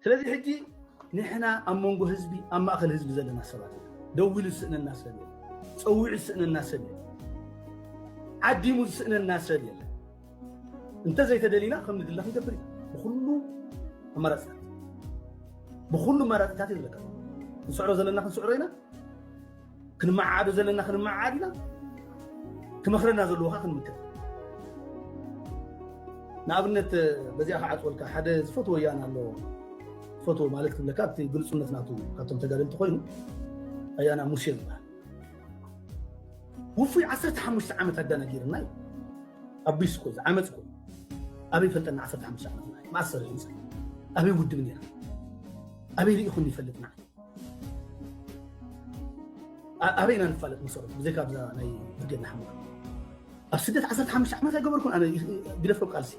ስለዚ ሕጂ ንሕና ኣብ መንጎ ህዝቢ ኣብ ማእከል ህዝቢ ዘለና ሰባት ኢና። ደዊሉ ዝስእነና ሰብ የለን። ጸዊዑ ዝስእነና ሰብ የለን። ዓዲሙ ዝስእነና ሰብ የለን። እንተዘይተደሊና ከም ንድለ ክንገብር ኢና ብኩሉ ኣማራፅታት ብኩሉ ኣማራፅታት እዩ ዘለካ ንስዕሮ ዘለና ክንስዕሮ ኢና ክንመዓዓዶ ዘለና ክንመዓዓድ ኢና ክመኽረና ዘለዎ ከዓ ክንምክር ንኣብነት በዚኣ ክዓፅወልካ ሓደ ዝፈትዎ ወያነ ኣለዎ ዝፈትዎ ማለት ክብለካ እቲ ግልፁነት ናቱ ካብቶም ተጋደልቲ ኮይኑ ኣያና ሙሴ ዝበሃል ውፉይ 15 ዓመት ኣዳና ገይርና እዩ ኣቢስ እኮ ዓመፅ እኮ ኣበይ ፈልጠና 15 ዓመት ማእሰር ህንፃ ኣበይ ውድብ ነይራ ኣበይ ርኢኹም ይፈልጥና ኣበይ ኢና ንፋለጥ መሰሉ ብዘይካ ኣብዛ ናይ ብርጌድ ንሓመዱ ኣብ ስደት 15 ዓመት ኣይገበርኩን ኣነ ግደፍ ካብ ቃልሲ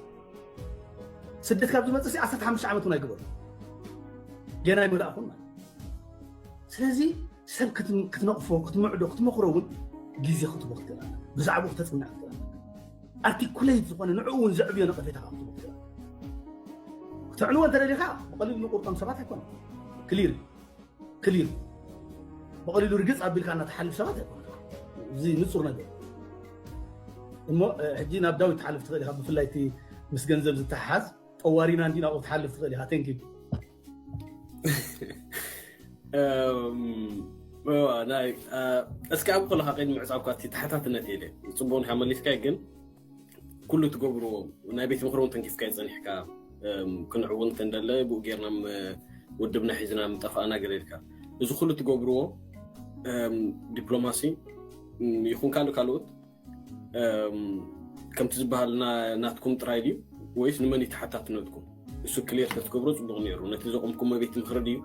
ስደት ካብ ዝመፅእ ሲ 15 ዓመት እውን ኣይገበርኩ ገና ኣይመላእኹን ማለት ስለዚ ሰብ ክትነቕፎ ክትምዕዶ ክትመኽሮ እውን ግዜ ክትቦ ክትገራ ብዛዕባኡ ክተፅንዕ ክትገራ ኣርቲኩለይት ዝኾነ ንዕኡ እውን ዘዕብዮ ነቐፌታ ካብ ዝህቡ ክኢላ ክተዕንዎ እንተደሊኻ ብቐሊሉ ንቁርጦም ሰባት ኣይኮነ ክሊር ክሊር ብቐሊሉ ርግፅ ኣቢልካ እናተሓልፍ ሰባት ኣይኮነ እዚ ንፁር ነገር እሞ ሕጂ ናብ ዳዊት ትሓልፍ ትኽእል ኢኻ ብፍላይ እቲ ምስ ገንዘብ ዝተሓሓዝ ጠዋሪና እንዲ ናብኡ ትሓልፍ ትኽእል ኢኻ ቴንኪ እስኪ ኣብ ኮለካ ቀይዲ ምዕፃብካ ተሓታትነት የለ ፅቡቅ ንካ መሊስካ ግን ኩሉ ትገብርዎ ናይ ቤት ምክሪ እውን ተንኪፍካ ይፀኒሕካ ክንዕውን ተንደለ ብኡ ጌርና ውድብና ሒዝና ምጠፋእና ገለልካ እዚ ኩሉ ትገብርዎ ዲፕሎማሲ ይኹን ካልእ ካልኦት ከምቲ ዝበሃል ናትኩም ጥራይ ድዩ ወይስ ንመን እዩ ተሓታትነትኩም እሱ ክሌር ተትገብሮ ፅቡቅ ነይሩ ነቲ ዘቆምኩሞ ቤት ምክሪ ድዩ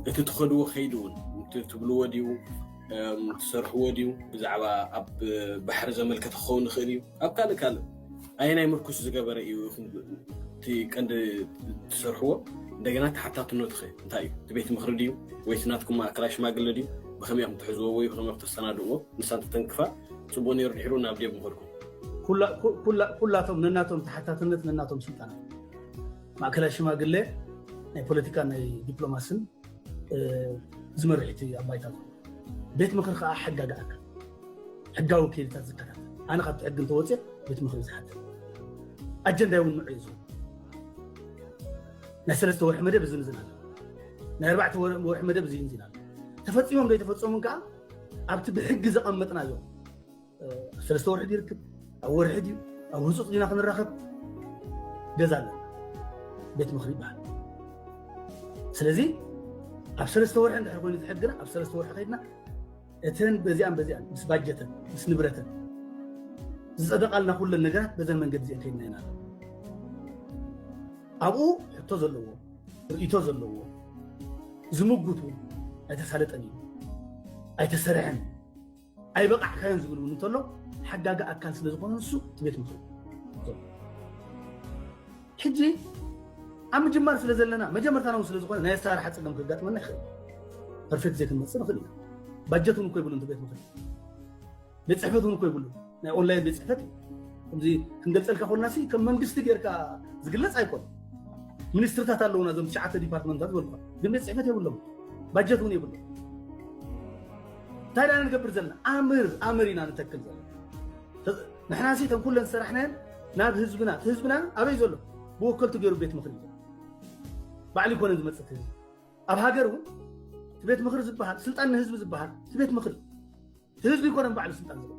እቲ ትኸድዎ ከይዲ እውን ትብልዎ ድዩ ትሰርሕዎ ድዩ ብዛዕባ ኣብ ባሕሪ ዘመልከተ ክኸውን ይኽእል እዩ ኣብ ካልእ ካልእ ኣየናይ ምርኩስ ዝገበረ እዩ ኢኹም እቲ ቀንዲ ትሰርሕዎ እንደገና ተሓታትነቱ ኸ እንታይ እዩ እቲ ቤት ምኽሪ ድዩ ወይስ ናትኩም ማእከላይ ሽማግለ ድዩ ብኸመይ ኢኹም ትሕዝዎ ወይ ብኸመይ ክተሰናድእዎ ንሳ እንተተንክፋ ፅቡቅ ነይሩ ድሕሩ ናብ ዴብ ምኸድኩም ኩላቶም ነናቶም ተሓታትነት ነናቶም ስልጣን ማእከላይ ሽማግለ ናይ ፖለቲካ ናይ ዲፕሎማስን ዝመርሕቲ ኣብ ባይታ ቤት ምኽሪ ከዓ ሕጋጋ ኣካል ሕጋዊ ከይድታት ዝከታተል ኣነ ካብቲ ሕጊ እንተወፅእ ቤት ምኽሪ ዝሓትት ኣጀንዳይ እውን ምዕዩ ዝኸውን ናይ ሰለስተ ወርሒ መደብ እዚ ንዝና ናይ ኣርባዕተ ወርሒ መደብ እዚ ንዚና ተፈፂሞም ዘይተፈፀሙን ከዓ ኣብቲ ብሕጊ ዘቐመጥናዮ ኣብ ሰለስተ ወርሒ ይርክብ ኣብ ወርሒ ድዩ ኣብ ህፁፅ ዲና ክንራኸብ ገዛ ኣለና ቤት ምኽሪ ይበሃል ስለዚ ኣብ ሰለስተ ወርሒ እንድሕር ኮይኑ ዝሕግና ኣብ ሰለስተ ወርሒ ከይድና እተን በዚኣን በዚኣን ምስ ባጀተን ምስ ንብረተን ዝፀደቓልና ኩለን ነገራት በዘን መንገዲ እዚኦ ከይድና ኢና ኣለና ኣብኡ ሕቶ ዘለዎ ርእቶ ዘለዎ ዝምጉት እውን ኣይተሳለጠን እዩ ኣይተሰርሐን እዩ ኣይበቃዕካዮን ዝብል እውን እንተሎ ሓጋጋ ኣካል ስለ ዝኾነ ንሱ እቲ ቤት ምኽሪ ሕጂ ኣብ ምጅማር ስለ ዘለና መጀመርታና እውን ስለ ዝኾነ ናይ ኣሰራርሓ ፀገም ከጋጥመና ይኽእል እዩ ፐርፌክት ዘይክንመፅእ ንኽእል ኢና ባጀት እውን እኮ ይብሉን ቤት ምኽሪ ቤት ፅሕፈት እውን እኮ ይብሉን ናይ ኦንላይን ቤት ፅሕፈት ከምዚ ክንገልፀልካ ኮልና ሲ ከም መንግስቲ ጌርካ ዝግለፅ ኣይኮን ሚኒስትርታት ኣለውና እዞም ትሽዓተ ዲፓርትመንታት ዝበልኳ ግን ቤት ፅሕፈት የብሎም ባጀት እውን የብሎም እንታይ ዳ ንገብር ዘለና ኣምር ኣምር ኢና ንተክል ዘለና ንሕና ሲ ተን ኩለን ዝሰራሕናየን ናብ ህዝብና እቲ ህዝብና ኣበይ ዘሎ ብወከልቱ ገይሩ ቤት ምኽሪ እዩ ባዕሉ ይኮነን ዝመፅእ እቲ ህዝቢ ኣብ ሃገር እውን እቲ ቤት ምኽሪ ዝበሃል ስልጣን ንህዝቢ ዝበሃል እቲ ቤት ምኽሪ እቲ ህዝቢ ይኮነን ባዕሉ ስልጣን ዝለ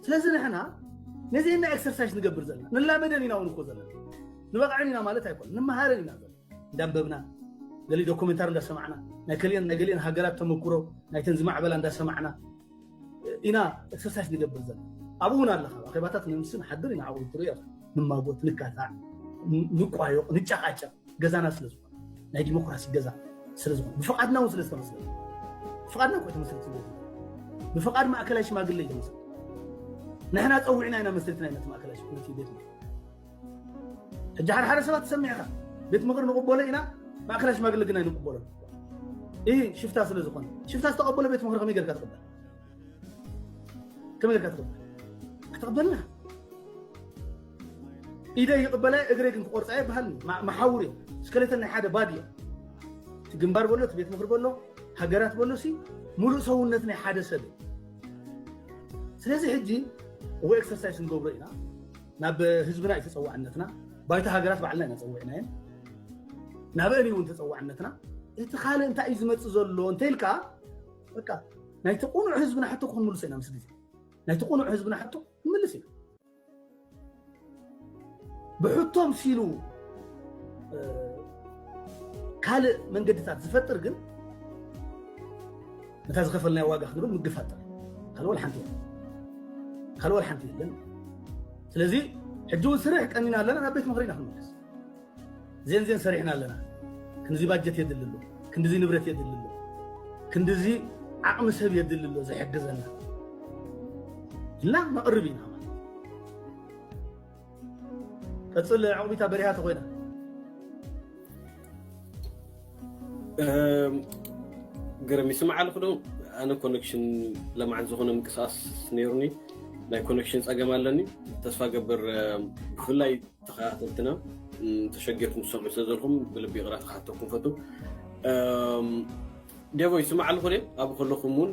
ስለዚ ንሕና ነዚ እና ኤክሰርሳይዝ ንገብር ዘለና ንላመደን ኢና እውን እኮ ዘለና ንበቕዕን ኢና ማለት ኣይኮነ ንመሃርን ኢና ዘለና እንዳንበብና ገሊ ዶኩሜንታሪ እንዳሰማዕና ናይ ከሊኦን ናይ ገሊኦን ሃገራት ተመኩሮ ናይተን ዝማዕበላ እንዳሰማዕና ኢና ኤክሰርሳይስ ንገብር ዘለና ኣብኡ እውን ኣለካ ኣኼባታት ነምሲ ንሓድር ኢና ዓብኡ ትሪኦ ንማጎት ንጋታዕ ንቋዮቕ ንጨቃጨቕ ገዛና ስለ ዝኾነ ናይ ዲሞክራሲ ገዛ ስለ ዝኾነ ብፍቓድና እውን ስለ ዝተመስለ ብፍቓድና ኮ ተመስሪት ስለ ብፍቓድ ማእከላይ ሽማግለ እዩ ተመስሪት ንሕና ፀዊዕና ኢና መስሪትና ኢና እቲ ማእከላይ ሽማግለ ቤት ሕጂ ሓደ ሓደ ሰባት ትሰምዕ ኢኻ ቤት ምኽሪ ንቕበሎ ኢና ማእከላይ ሽማግለ ግን ኣይንቕበሎን ይህ ሽፍታ ስለ ዝኾነ ሽፍታ ዝተቐበሎ ቤት ምኽሪ ከመይ ጌርካ ትቕበል ከመይ ጌርካ ትቕበል ክትቕበልና ኢደይ ይቕበላ እግረይ ግን ክቆርፃ ይበሃል መሓውር እዩ ስከሌተን ናይ ሓደ ባድ እዩ እቲ ግንባር በሎ እቲ ቤት ምኽሪ በሎ ሃገራት በሎ ሲ ሙሉእ ሰውነት ናይ ሓደ ሰብ እዩ ስለዚ ሕጂ ወይ ኤክሰርሳይስ ንገብሮ ኢና ናብ ህዝብና እዩ ተፀዋዕነትና ባይታ ሃገራት ባዕልና ኢና ፀዊዕናየን ናበን እውን ተፀዋዕነትና እቲ ካልእ እንታይ እዩ ዝመፅእ ዘሎ እንተኢልካ በቃ ናይቲ ቁኑዕ ህዝብና ሕቶ ክንምልሶ ኢና ምስ ግዜ ናይቲ ቁኑዕ ህዝብና ሕቶ ክንምልስ ኢና ብሕቶ ምሲሉ ካልእ መንገድታት ዝፈጥር ግን ነታ ዝኸፈልናዮ ዋጋ ክንብል ምግፋጥ ጥራይ ካልእ ወላ ሓንቲ የለን ካልእ ወላ ሓንቲ የለን ስለዚ ሕጂ እውን ስርሕ ቀኒና ኣለና ናብ ቤት ምኽሪ ኢና ክንመለስ ዜንዜን ሰሪሕና ኣለና ክንዚ ባጀት የድሊ ኣሎ ክንድዚ ንብረት የድሊ ኣሎ ክንድዚ ዓቕሚ ሰብ የድሊ ኣሎ ዝሕግዘና ኢልና ነቕርብ ኢና ቀፅል ዕቁቢታ በሪሃ ተኮይና ግርም ይስማዕ ኣለኹ ዶ ኣነ ኮኔክሽን ለማዓት ዝኾነ ምንቅስቃስ ነይሩኒ ናይ ኮኔክሽን ፀገም ኣለኒ ተስፋ ገብር ብፍላይ ተኸታተልትና ተሸጊርኩም ዝሰምዑ ስለ ዘለኹም ብልቢ ይቕራ ተኸታተልኩም ፈቱ ዴቦ ይስማዕ ኣለኹ ደ ኣብኡ ከለኹም እውን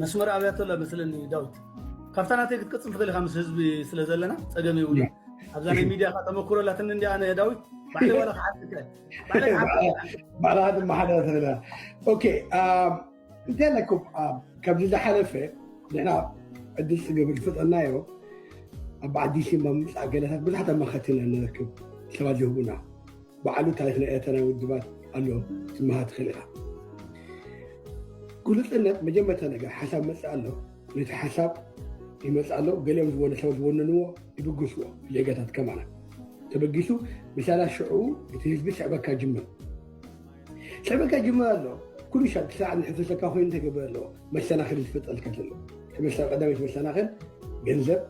መስመር ኣብያቶ ኣሎ መስለኒ ዳዊት ካብታ ናተይ ክትቅፅል ትኽእል ኢኻ ምስ ህዝቢ ስለ ዘለና ፀገም የብሉ ኣብዛ ናይ ሚድያኻ ተመክሮ ኣላትኒ እንዲ ኣነ ዳዊት ባዕለይ ዋላ ክሓትት ባዕልኻ ትመሓደር ትኽእል ኢኻ ኦኬ እንታይ ኣለኩም ከምዚ ዝሓለፈ ንሕና ዕድል ፅገብ ዝፈጠናዮ ኣብ ዓዲሲ ምምፃእ ገለታት ብዙሓት ኣማኸርቲ ኢና ንረክብ ሰባት ዝህቡና ባዕሉ ታሪክ ናይ ኤርትራ ናይ ውድባት ኣሎ ትመሃር ትኽእል ኢኻ ግሉፅነት መጀመርታ ነገር ሓሳብ መፅእ ኣሎ ነቲ ሓሳብ ይመጽእ ኣሎ፣ ገሊኦም ዝበሉ ሰብ ዝወንንዎ ይብግስዎ፣ ዜጋታት ከማና ተበጊሱ ምሳላ ሽዑ እቲ ህዝቢ ስዕበካ ጅምር ስዕበካ ጅምር ኣሎ ኩሉ ሻብ ክሳዕ ንሕፍሰካ ኮይኑ ተገብረ ኣለዎ መሰናኽል ዝፈጠልካ ዘሎ ተመሳል ቀዳመይቲ መሰናኽል ገንዘብ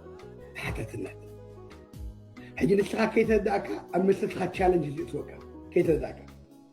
ተሓታትነት ሕጂ ንስኻ ከይተረዳእካ ኣብ መሰልካ ቻለንጅ ዝእትወካ ከይተረዳእካ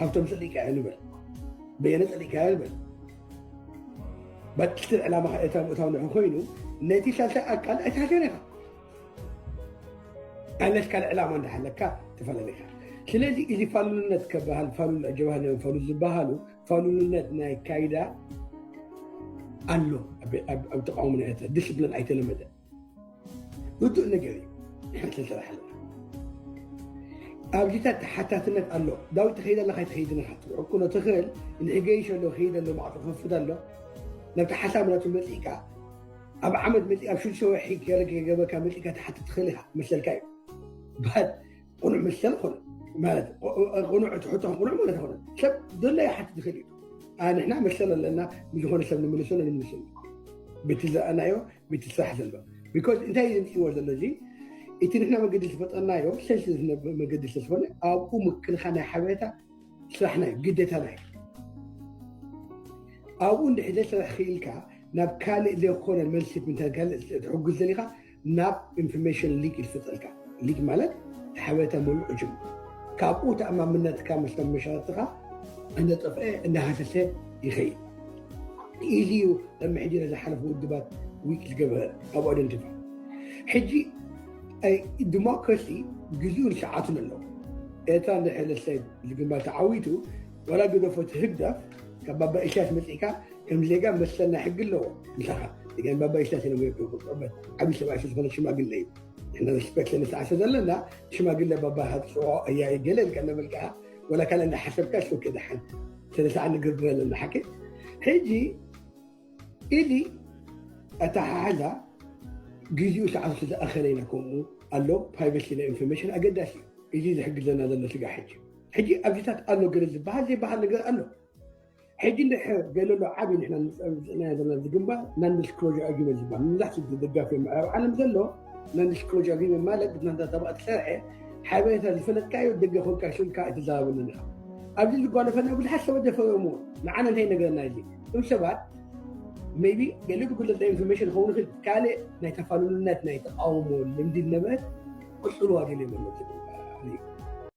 ሃብቶም ጸሊእካዮ ንበል በየነ ጸሊእካዮ ንበል ባጭትን ዕላማኻ ኤርትራ ምእታው ንሕ ኮይኑ ነቲ ሳልሳይ ኣካል ኣይትሃገር ኢኻ ኣለስ ካልእ ዕላማ እንዳሃለካ ተፈላለካ ስለዚ እዚ ፋሉልነት ከበሃል ፋሉል ጀባህል ፋሉ ዝበሃሉ ፋሉልነት ናይ ካይዳ ኣሎ ኣብ ተቃውሞ ናይ ኤርትራ ዲስፕሊን ኣይተለመደ ርዱእ ነገር እዩ ንሕና ክንሰራሓሉ ኣብዚ ተሓታትነት ኣሎ ዳዊት ትኸይድ ኣለካ ኣይትኸይድን ኢኻ ትሕኩኖ ትኽእል ንሕገይሽ ኣሎ ክይድ ኣሎ ማዕፆ ክኸፍት ኣሎ ነቲ ሓሳብ ናቱ መፂእካ ኣብ ዓመት መፂእ ኣብ ሽዱሽተ ወርሒ ገረ ገበካ መፂእካ ትሓትት ትኽእል ኢኻ መሰልካ እዩ ቁኑዕ ምሰል ኮነ ማለት ቁኑዕ ትሕቶ ቁኑዕ ማለት ኮነ ሰብ ዘሎ ይሓትት ይኽእል እዩ ኣንሕና መሰል ኣለና ንዝኾነ ሰብ ንምልሶ ንምልሶ በቲ ዝረኣናዮ በቲ ስራሕ ዘሎ ቢኮዝ እንታይ እዩ ዝምፅዎ ዘሎ እዚ እቲ ንሕና መገዲ ዝፈጠርናዮ ሰልሲ ዝነብር መገዲ ስለዝኾነ ኣብኡ ምክልኻል ናይ ሓበሬታ ስራሕና እዩ ግዴታና እዩ ኣብኡ እንድሕዘ ስራሕ ክኢልካ ናብ ካልእ ዘይኮነ መልሲ ምንታይ ካልእ ትሕግዝ ዘሊኻ ናብ ኢንፎርሜሽን ሊክ ይልፍጠልካ። ሊክ ማለት ሓበሬታ ምሉእ ዕጁም። ካብኡ ተኣማምነትካ ምስቶም መሻርትኻ እናጠፍአ እናሃሰሰ ይኸይድ። ኢዚ እዩ ቅድሚ ሕጂ ንዝሓለፉ ውድባት ዊክ ዝገበረ ኣብ ኣደንቲፋ ሕጂ ዲሞክራሲ ግዜኡን ሰዓቱን ኣሎ ኤርትራ እንድሕር ንሰብ ዝግባእ ተዓዊቱ ዋላ ግደፎ እቲ ህግደፍ ካብ ባባ ኢሳያስ መጺእካ ከም ዜጋ መሰል ናይ ሕጊ ኣለዎ ምሳኻ ግን ባባ ኢሳያስ ኢሎም ይቅበል ዓብዪ ሰብኣይ ስለዝኾነ ሽማግለ እዩ ንሕና ሪስፔክት ስለንስዓሰ ዘለና ሽማግለ ባባ ሃትፅኦ እያ ገለ ኢልካ እናበልካ ወላ ካልእ እንዳሓሰብካ ሱክ ድሓን ስለሰዓ ንግርግር ኣለና ሓቂ ሕጂ ኢዲ ኣተሓሓዛ ግዚኡ ሰዓቱ ስለዝኣኸለ ኢና ከምኡ ኣሎ ፕራይቬሲ ናይ ኢንፎርሜሽን ኣገዳሲ እዩ እዚ ዝሕግዘና ዘሎ ስጋ ሕጂ ሕጂ ኣብዚታት ኣሎ ገለ ዝበሃል ዘይበሃል ነገር ኣሎ ሕጂ እንድሕር ገለሎ ዓብዪ ንሕና ዝፅዕናዮ ዘለና እዚ ግንባር ናን ዲስክሎዥር ኣግሪመንት ዝበሃል መብዛሕትኡ ደጋፊ ምዕራብ ዓለም ዘሎ ናን ዲስክሎዥር ኣግሪመንት ማለት ብናታ ተባዕ ዝሰርሐ ሓበሬታ ዝፈለጥካዮ ደገ ኮንካ ሽልካ ኣይትዛረበሉን ኢኻ ኣብዚ ዝጓለፈና ብዙሓት ሰባት ደፈረሞ ንዓነ እንታይ ነገርና እዚ እም ሰባት ሜቢ ገለ ብጉለት ናይ ኢንፎርሜሽን ክኸውን ይኽእል ካልእ ናይ ተፋልልነት ናይ ተቃውሞ ልምዲ ነበረት ክፅልዋ ደልዮ መለፅ